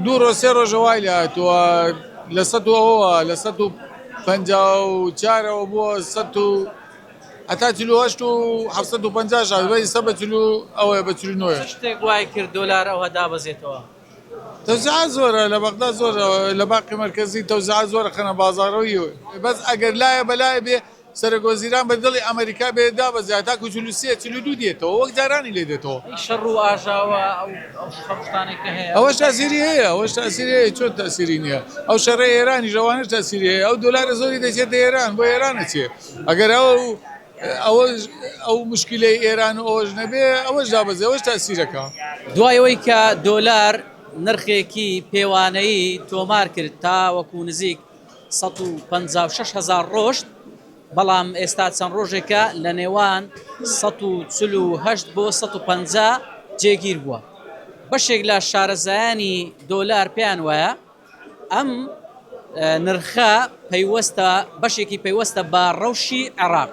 دوو ڕۆژ سێ ڕۆژە وای لێ هاتووە لە سەد و ئەوەوە لە سەد و پەنجا و چارەوە بووە سەد و هەتا چلو هەشت و حەفسەد و پەنجا شاد بە ئیستا بە چلو ئەوەیە بە چلو نۆیە چ شتێک وای کرد دۆلار ئەوها دابەزێتەوە؟ تەوزیعات زۆرە لە بەغدا زۆرە لە باقی مەرکەزی تەوزیعات زۆرە خەنە بازاڕەوە یوێ بەس ئەگەر لایە بە لایە بێ سەرۆک وەزیران بە دڵی ئەمەریکا بێت دابەزێ تاکو چل و سێ، چل و دوو دێتەوە وەک جارانی لێ دێتەوە. ئەی شەڕ و ئاژاوە ئەو ئەو شوشتانەی کە هەیە. ئەوەش تاسیری هەیە ئەوەش تاسیری هەیە چۆن تاسیری نییە ئەو شەڕەی ئێرانیش ئەوانەش تاسیری هەیە ئەو دۆلارە زۆری دەچێتە ئێران بۆ ئێران ئەچێ ئەگەر ئەو ئەوەش ئەو مشکلەی ئێران و ئەوەش نەبێ ئەوەش دابەزێ ئەوەش تاسیرەکە. دوای ئەوەی کە دۆلار نرخێکی پێوانەیی تۆمار کرد تاوەکو نزیک. سەد و پەنجا و شەش هەزار ڕۆشت، بەڵام ئێستا چەند ڕۆژێکە لە نێوان سەد و چل و هەشت بۆ سەد و پەنجا جێگیر بووە. بەشێک لە شارەزایانی دۆلار پێیان وایە ئەم نرخە پەیوەستە بەشێکی پەیوەستە بە ڕەوشی عێراق،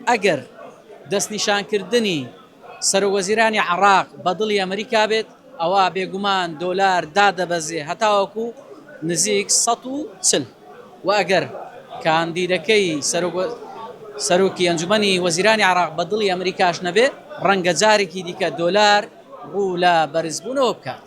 ئەگەر دەستنیشانکردنی سەرۆکوەزیرانی عێراق بە دڵی ئەمریکا بێت، ئەوا بێگومان دۆلار دادەبەزێ هەتاوەکو نزیک سەد و چل و ئەگەر کاندیدەکەی سەرۆکی ئەنجومەنی وەزیرانی عێراق بە دڵی ئەمریکاش نەبێ، ڕەنگە جارێکی دیکە دۆلار ڕوو لە بەرزبوونەوە بکات.